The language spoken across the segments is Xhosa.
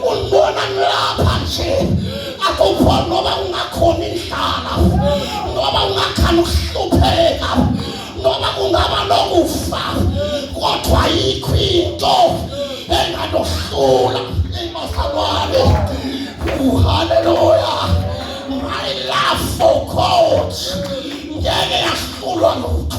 Umbona ngilapha nje akukho noba ungakhona indlala noba ungakhani ukuhlupheka noba kungaba nokufa kodwa ayikho into enganohlula imasalwane uhaleluya my love for god ngeke yahlulwa lutho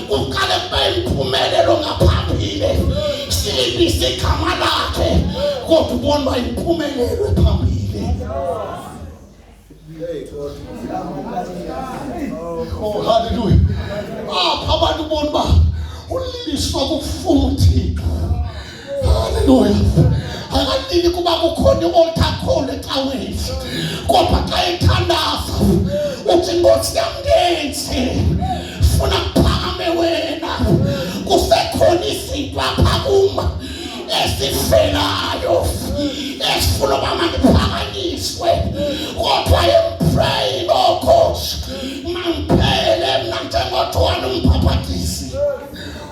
kuqale kube impumelelo ngaphambili silibise igama lakhe kodwa ubona uba impumelelo ephambili oh haleluya apha abantu ubona uba uliliswa kufuna uthixo akadini kuba kukhona i-oltakhona ecaweni kodwa xa ethandaza uthi nkosi yam ndenzi funa kuphakame wena kusekhona izinto apha kum esifelayo esifuna uba mandiphakanyiswe kodwa empraying ookhoshi mandiphele mna njengothwana umphaphathisi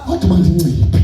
kodwa mandinciphe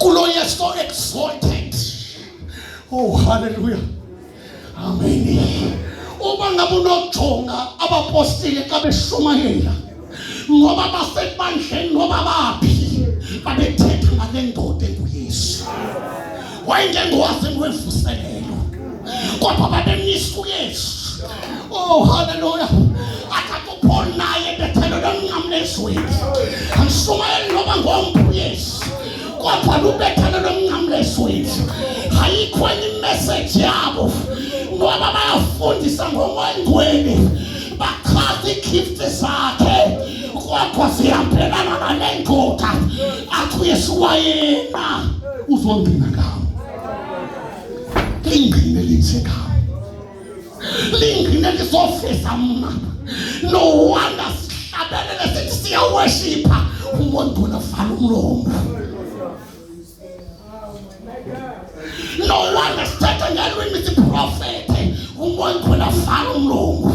Gloria so exalted. Oh, hallelujah. Amen. Uma ngabe unojonga abapostile xa beshumayela ngoba basebandleni noba baphi babethetha ngale ndoda enguyesu wayengengowazi ngwevuselelo kodwa babemnyisa uyesu oh haleluya akakupho naye bethelo lomncamla ezweni andishumayeli noba ngomntu uyesu kodwa lubethelo lomncamla ezweni ayikho enye imeseji yabo ngoba bayafundisa ngokwengcwele bachaza iigifti zakhe kwakho zihambelana nale ndoda athi uyesiwayena uzongqina ngawo lingqine linje ngawo lingqine lisofisa mna no wonder sihlabelele sithi siyawashipha umondona vala umlomo no wonder sithetha ngelwimi siprofethe umondona vala umlomo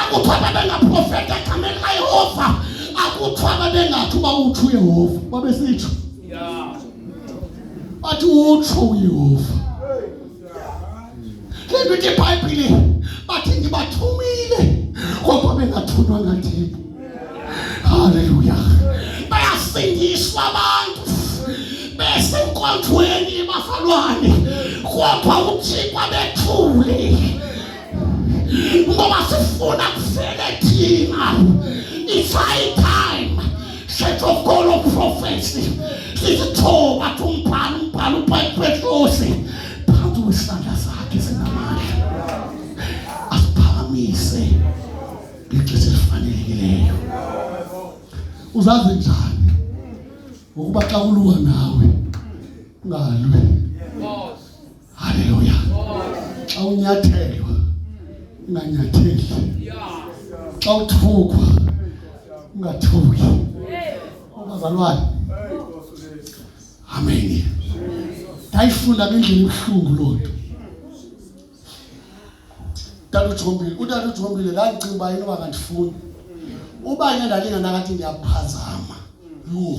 akuthiwa babengaprofeta egameni layehova akuthiwa babengathi uba utsho uyehova babesitsho bathi utsho uyehova le nto ithi ibhayibhile bathi ndibathumile kodwa bengathunywa ngathini halleluya bayasindiswa abantu besenkonzweni yebafalwane kodwa uthixo bethule ngoba sifuna kufele thina it's high time shetokolo prophecy sisithoba tumbhala umbhala ubhayipetlosi phansi wesandla sakhe sinamandla asiphakamise ngexesha elifanelekileyo uzazi njani ngokuba xa kuluwa nawe ungalwi Haleluya. Xa unyathelwa unganyatheli. Xa uthukwa ungathuki. Ubazalwane. Amen. Ndayifunda ngendlela ebuhlungu loo nto. Tata uJombile, utata uJombile ndandicinga uba yini uba ngandifuni. Uba yena ndandinganakathi ndiyaphazama. Yho.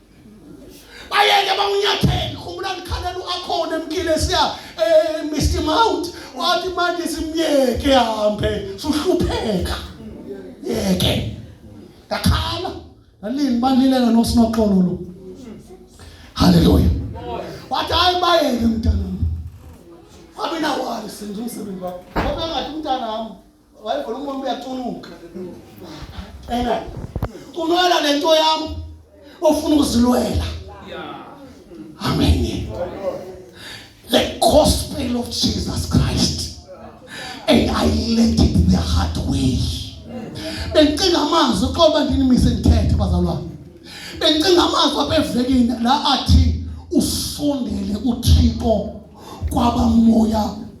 bayeke bawunyathele khumbula ndikhalela uakhona emkile siya um eh, mr mount wathi manje simyeke hambe suhlupheka yeke ndakhala ndalini balileka nosinoxolo lo halleluya wathi hayi bayeke mntanam wabe nawali senje umsebenzi wakho wabe ngathi umntanam Wayiva lo mama uyatuluka. Ena. Kulwela le nto yam ofuna ukuzilwela. Amen. The gospel of Jesus Christ. And I let it the hard way. Bengicinga amazwi xoba ndinimise ndithethe bazalwane. Bengicinga amazwi abevekini la athi usondele uThixo kwabamoya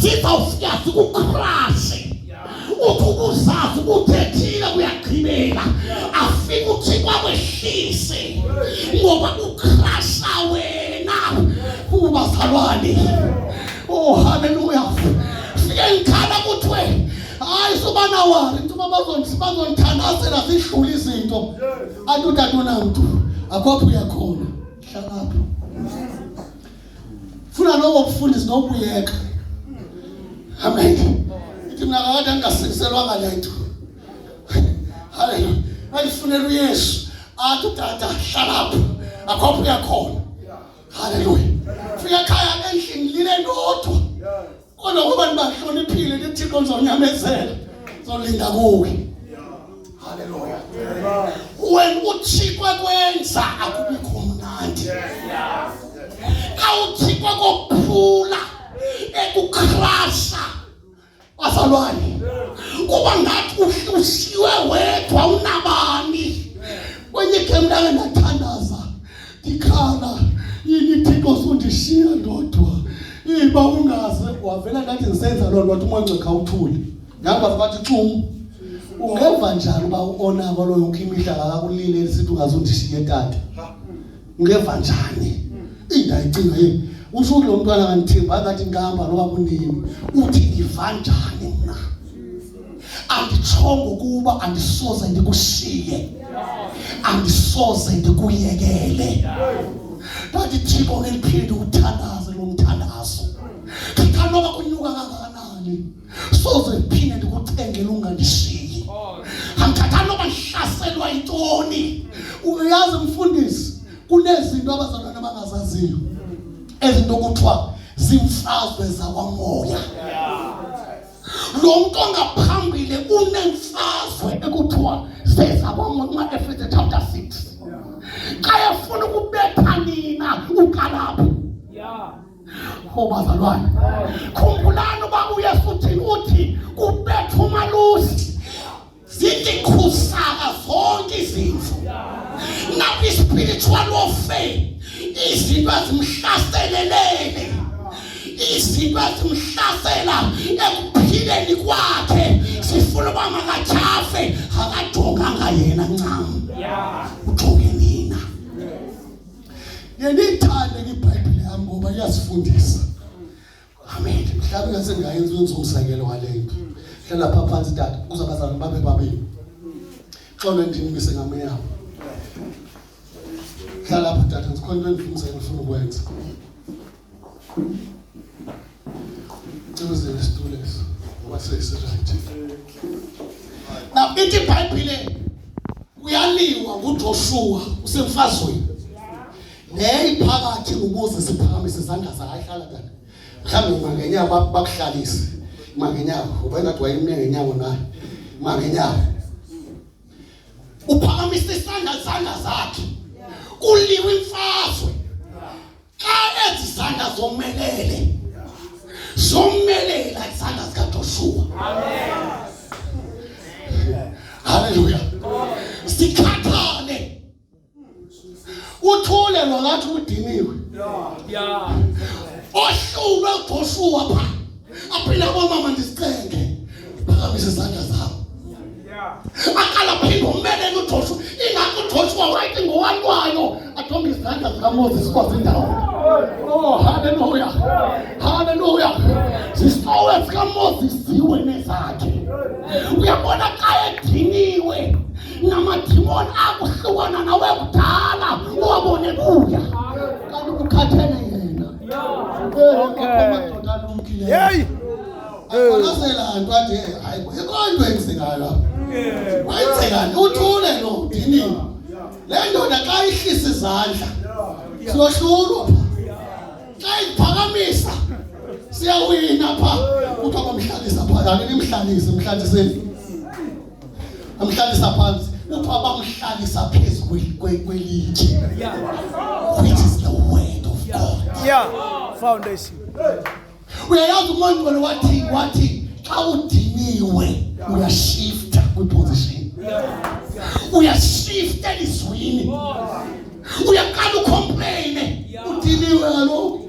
sizawufika sikukrashe uthi ubuzazi ubuthethile kuyagqibela afike uthi kwakwehlise ngoba kukrasha wena kubazalwane oh haleluya fike ngikhala kuthiwe hayi subanawari ntuba bazondithandazela zidlula izinto anti utata unamntu akho apho uyakhona hlalapho funa lowo kufundisa nokuyeka amen ithi mina kakade angasikiselwanga le nto haleluya andifunela uyesu athi udada hlalapho akhopha uyakhona haleluya fika ekhaya endlini lile ndodwa kodwa ngoba nibahloniphile nithixo ndizonyamezela ndizolinda kuwe halleluya when uthixo ekwenza akubikho mnandi xa uthixo kophula ekukrasha bazalwane kuba ngathi uhlusiwe wedwa unabani kwenye gemntake ndathandaza ndikhala inithixo sundishiya ndodwa iba ungaze wavela ngathi ndisenza loo nto wathi umoncekha uthule ngamba bathi tum ungeva njani uba uonako loyo ukho imihla ngakakulile lisithi ungaze undishiye tata ungeva njani indayicinga yini usho ukuthi lo mntwana ngandithemba ngathi ngihamba noba kunini uthi ngiva njani mna anditshongo ukuba andisoze ndikushiye andisoze ndikuyekele ndandithiko ngeliphinde ukuthandaze lo mthandazo ndithanoba kunyuka kangakanani soze ndiphinde ndikucengele ungandishiyi andithatha noba ndihlaselwa yintoni uyazi mfundisi kunezinto abazalwana abangazaziyo ezinto kuthiwa zimfazwe zakwamoya yeah. lo mntu ongaphambile unemfazwe ekuthiwa zezakwamnqa efese chapter 6 xa efuna ukubetha nina ukalapho o bazalwane khumbulani uba uyesu uthini uthi kubetha umalusi zidikhusaka zonke izimvu nabi spiritual warfare izinto ezimhlaselelele izinto ezimhlasela ekuphileni kwakhe sifuna uba makatyhafe akajonganga yena ncam ujonge nina yenithande ibhayibhile yam ngoba iyasifundisa Amen. Mhlawumbe ngasengayenza umzekelo walento. Hlala pha phansi tata, kuza bazalwane babe babini. Xolo ndinimise ngameyabo. Hlala pha tata, ngikhona into endifundisa ngifuna ukwenza. Cebuzele isitulo eso. Ngoba sesirayithi. Na ithi iBhayibhile kuyaliwa nguJoshua usemfazweni. Leyi phakathi ukuze siphakamise izandla zakhe hlala tata. Mhlawumbi mangenyawo bakuhlalise. Mangenyawo ubengathi wayimne ngenyawo na. Mangenyawo. Uphakamisa isandla zandla zakhe. Kuliwe imfazwe. Xa ezi zandla zomelele. Zomelele izandla zika Joshua. Amen. Hallelujah. uthule lo ngathi udiniwe ohlulwe ujoshua pha aphinde komama ndizicenge phakamise izandla zabo akalaphinde umelele ujoshua ingakho ujoshua wayithi ngowalwayo athombe izandla zikamoses kwazindawo oh haleluya haleluya zisowe zikamoses ziwe nezakhe uyabona xa ediniwe namadimoni akuhlukana nawe kudala uwabone buya kanti ukukhathele yena madoda lumkileyo akonazela nto ade hayi ikonto enzekayo lapho wayenzekani uthule lo dinini le ndoda xa ihlisa izandla siyohlulwa pha xa iphakamisa siyawina pha kuthiwa bamhlalisa pha yani nimhlalise mhlalise amhlalisa phansi kuthiwa bamhlalisa phezu kwelitye which is the word of god yeah foundation uyayazi umongcwele wathi wathi xa udiniwe uyashifta kwiposition uyashifta elizwini uyaqala ucomplaine udiniwe kaloku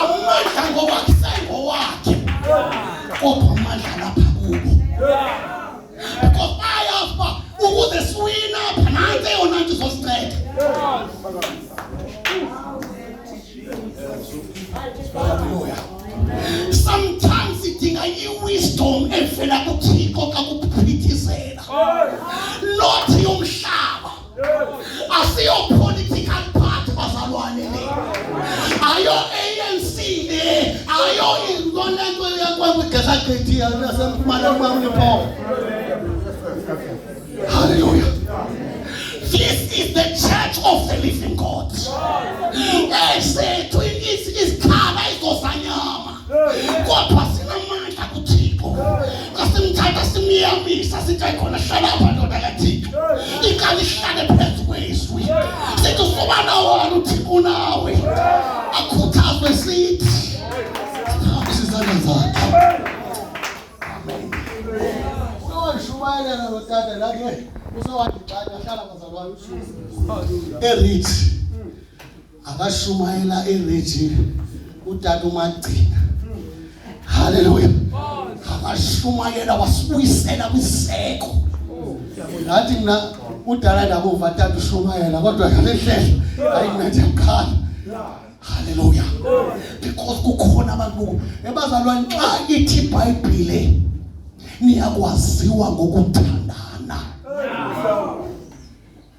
Amandla ngowakhe sengowakhe. Kodwa amandla lapha kubo. Because bayazi uba ukuze siwina apha nantsi eyona nto izosinceda. Hallelujah. Sometimes sidinga i-wisdom evela kuThixo xa kuphithizela. Not asiyo political party bazalwane le ayo ANC le ayo ingona nto yakwamigeza gqethi yasemfumana kwamnipho hallelujah this is the church of the living god esethu isikhala izosanyama kodwa sinamandla kuthixo xa simthatha simyamisa sithi ayikhona hlala apha ndoda kathixo ikali ihlale phezu kwezwi sithi usubana wona uthixo unawe akhuthazwe sithi siphambisa izandla zakhe ushumayelana notata lake usowathi xa ahlala bazalwane usuku erithi akashumayela eRegina utata uMagcina haleluya akashumayela wasibuyisela kwiseko ngathi mna udala ndakuva tata ushumayela kodwa ngale ndlela hayi mna ndiyakhala haleluya because kukhona abantu boku ebazalwane xa ithi ibhayibhile niyakwaziwa ngokuthandana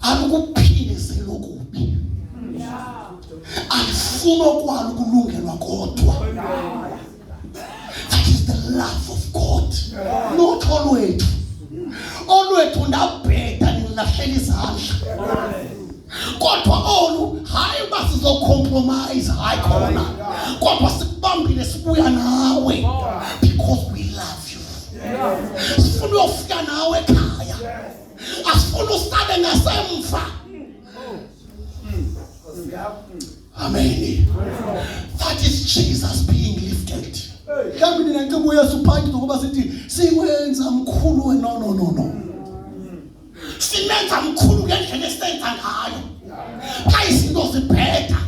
alikuphindiseli okubi alifuni okwalo ukulungelwa kodwa that is the love of god not olwethu olwethu ndabheda nilahlela izandla kodwa olu hayi uba sizocompromise hayi khona kodwa sikubambile sibuya nawe because we love you sifuna uyofika nawe ekhaya asifuna usale ngasemva amen that is jesus being lifted mhlawumbi nina nceba uyesu phantsi zokuba sithi siwenza mkhulu we no no no no simenza mkhulu ngendlela esisenza ngayo xa izinto zibheda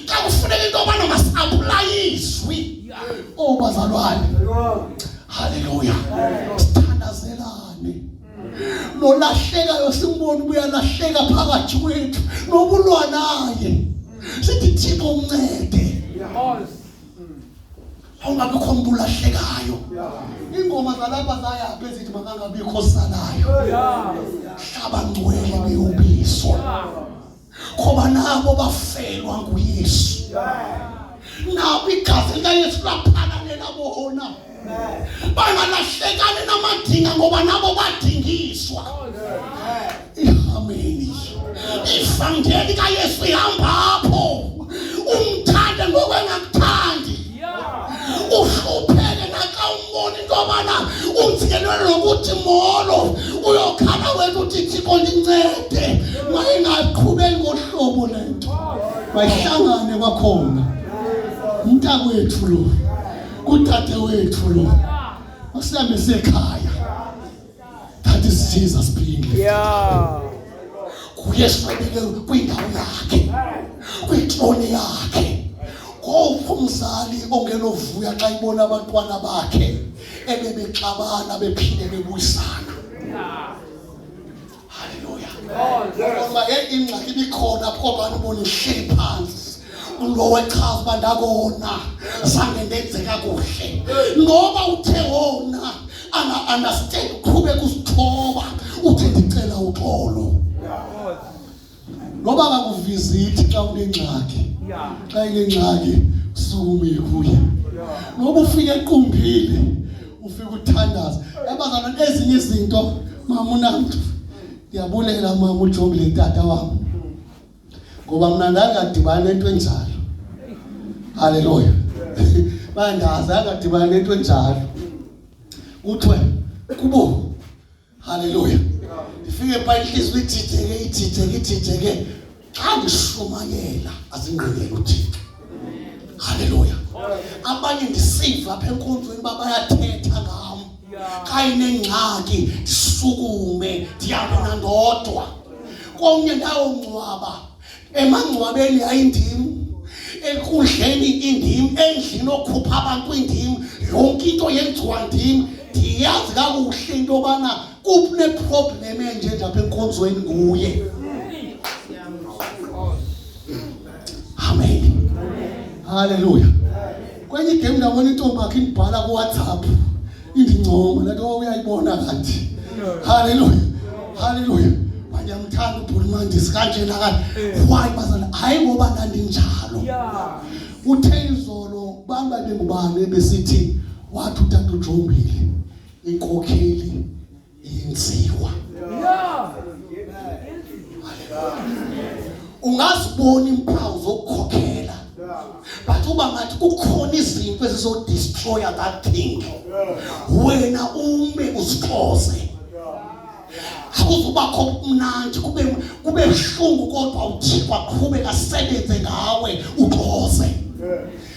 xa kufuneka into yobana masiapulayizwi oobazalwane oh, haleluya nolahlekayo simbona ubuyalahleka phakathi kwethu nokulwa naye sithi thixo uncede awungabikho mntu ulahlekayo iingoma zalapha zayaphi ezithi makangabikho salayo hlaba ngcwele beyobiswa ngoba nabo bafelwa nguyesu nabo igazi likayesu laphakanela bona bangalahlekani namadinga ngoba nabo badingiswa ihameni ivangeli kayesu ihambapho umthande ngokwengakuthandi uhlupheke nakawumboni into yobana unzikelelwe nokuthi molo uyokhala wethu uthi thixo ndincede mayingaqhubeli ngohlobo le nto mayihlangane kwakhona umntakwethu lo kudade wethu lo masihambe sekhaya That is Jesus being lifted. Yeah. Kuyeshwabeke kwindawo yakhe. Kwitrone yakhe. Ngoku umzali ongenovuya xa ibona abantwana bakhe ebebexabana bephinde bebuyisana. Haleluya. Ngoba ingxaki ibikhona apho abantu bonihleli phansi. Lo wechaza uba ndakona zange ndenze kakuhle. Ngoba uthe wona ana understand uqhubeka usithoba uthi ndicela uxolo. Noba akakuvizithi xa unengxaki. Xa inengxaki usukumile kuye. Noba ufike equmbile ufike uthandaza. Yabazana ezinye izinto mama unamntu. Ndiyabulela mama ujongile tata wam. Ngoba mna ndandadibana nento enjalo. Haleluya. Bandazi angadibana nento enjalo. Kuthiwe kubo Haleluya. Ifike pha inhliziyo ithitheke ithitheke ithitheke xa ndishumayela azingqinele uThixo. Haleluya. Abanye ndisiva apha enkonzweni uba bayathetha ngam. Xa inengxaki ndisukume ndihambe nandodwa. Komnye ndawongcwaba emangcwabeni ayindim enkundleni indim endlini okhupha abantu indim yonke into yenziwa ndim ndiyazi kakuhle into yobana kuneproblem enje nje apha enkonzweni nguye amen halleluya kwenye igame ndabona intombi akhe indibhala kuwhatsapp Indincomo le nto uyayibona kanti. Haleluya. Haleluya. Wayamthanda ubhuti mandisi kanje nakanje. Eh. Why bazana? Hayi ngoba ndandinjalo. Yeah. Uthe izolo bamba bengubani besithi wathi utata uJombile inkokheli inziwa ungazibona iimpawu zokukhokhela but uba ngathi kukhona izinto ezizodestroya that thing wena ume uzixoze akuzubakho kumnandi kube kube buhlungu kodwa uthixo aqhube asebenze ngawe uxoze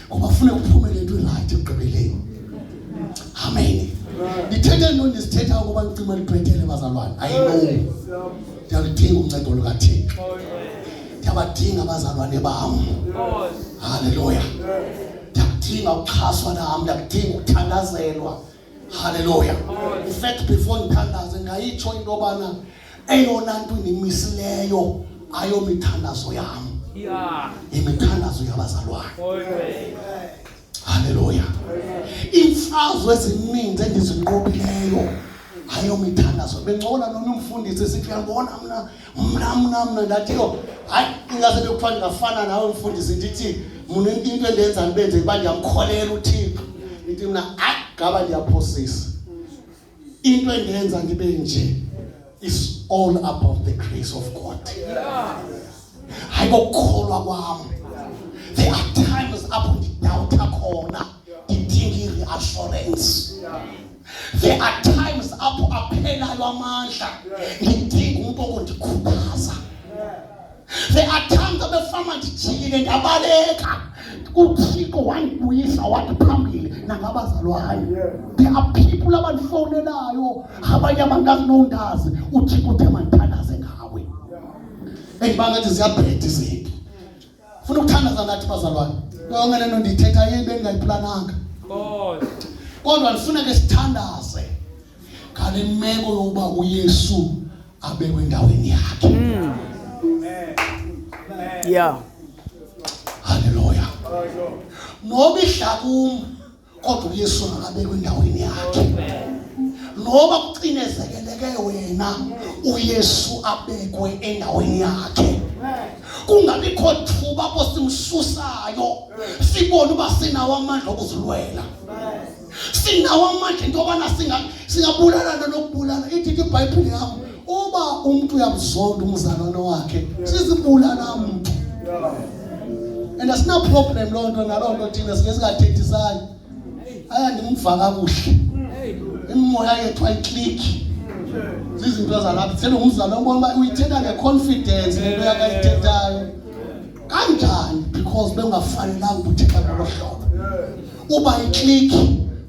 ngoba funa kuphumele into erayithi ekugqibeleni amen ndithethe nto ndisithetha ukuba nicima libhetele bazalwane ayino ndiyaludinga uncedo lukathixo ndiyabadinga abazalwane bam halleluya ndiyakudinga ukuxhaswa nam ndiyakudinga ukuthandazelwa Hallelujah. In fact, before ngithandaze ngayitsho into yobana eyona nto indimisileyo ayomithandazo yam imithandazo yabazalwane oh, halleluya iimfazwe ezininzi endizinqobileyo ayomithandazo bencokola nomnye umfundisi sithi uyambona mna mna mna mna ndathi yho hayi ingase bekuthiwa ndingafana nawe mfundisi ndithi mna into endenza ndibe nje uba ndiyamkholela uthixo ndithi mna hayi ngaba ndiyaphosisa into endenza ndibe nje is all about the grace of god hayi kokukholwa kwam there are times apho ndidawutha khona ndidinga i-reassurance There are times apho aphelayo amandla ngidinga umntu okundikhuthaza. There are times abefama ndijikile ndabaleka uthixo wandibuyisa wathi phambili nangabazalwayo there are people abandifowunelayo abanye abangazi nondazi uthixo uthe mandithandaze ngawe endibangathi ziyabheda izinto funa ukuthandaza nathi bazalwane yonke lento ndiyithetha yini bendingayiplananga kodwa ndifuna ke sithandaze ngale meko yokuba uyesu abekwe endaweni yakhe hmm. ya halleluya noba idlakum kodwa uyesu makabekwe endaweni yakhe noba kucinezekeleke wena uyesu abekwe endaweni yakhe kungabikho thuba apho simsusayo sibone uba sinawo amandla okuzilwela sinawo amandla into yobana singabulala nokubulala idithi ibhayibhile yam Uba umntu uyamzonda umzalwane wakhe, sizibulala mntu. And asina problem loo nto naloo nto thina sike singathethisani. Aya ndimva kakuhle. Imimoya yethu ayiklikhi. Zizinto zalapha. Sele umzalwane ubona uba uyithetha ngeconfidence le nto yakayithethayo. Kanjani because bengafanelanga ukuthetha ngolo hlobo. Uba iklikhi